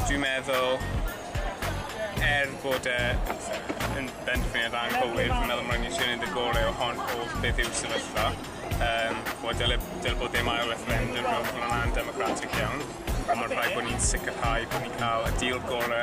Dwi'n meddwl er bod e yn benderfyniad anghywir fi'n meddwl mae'n isio neud y gore o hon o beth yw sefyllfa yym wel dyle dyle bod dim ail referendum mewn ffor ma'n democratic iawn ond ma'n rhaid bo' ni'n sicirhau bo' ni'n ca'l y deal gore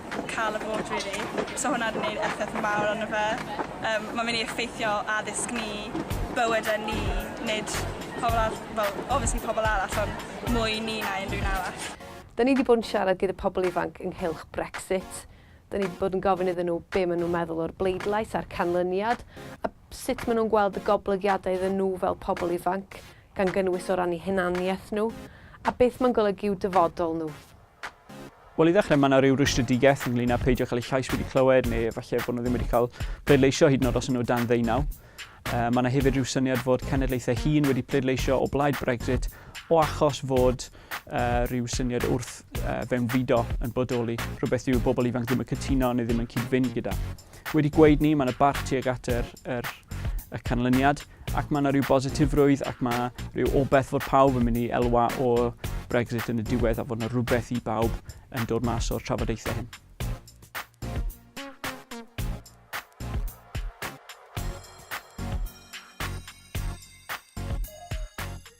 ca'l y vot rili. Bysa hwnna 'di neud effaith mawr arno fe. Yym ma'n myn' i effeithio addysg ni, bywyde ni, nid pobol arall, wel obviously pobol arall on' mwy ni na unrhyw un arall. Dyn ni 'di bod yn siarad gyda pobol ifanc ynghylch Brexit. Dyn ni 'di bod yn gofyn iddyn nhw be' ma' nhw'n meddwl o'r bleidlais a'r canlyniad, a sut ma' nhw'n gweld y goblygiadau iddyn nhw fel pobol ifanc, gan gynnwys o ran 'u hunaniaeth nhw, a beth ma'n golygu i'w dyfodol nhw. Wel, i ddechrau, mae yna rhyw rwystredigaeth ynglyn â peidio cael ei llais wedi clywed neu efallai bod nhw ddim wedi cael pleidleisio hyd yn oed os yna nhw dan ddeunaw. Uh, mae yna hefyd rhyw syniad fod cenedlaethau hun wedi pleidleisio o blaid Brexit o achos fod uh, rhyw syniad wrth uh, fewnfudo yn bodoli, rhywbeth yw bobl ifanc ddim yn cytuno neu ddim yn cyd-fynd gyda. Wedi gweud ni, mae 'na barch tuag at yr, yr, y canlyniad, ac mae 'na rhyw bositifrwydd ac mae rhyw obeth fod pawb yn mynd i elwa o Brexit yn y diwedd a fod 'na rhywbeth i bawb yn dod mas o'r trafodaethau hyn.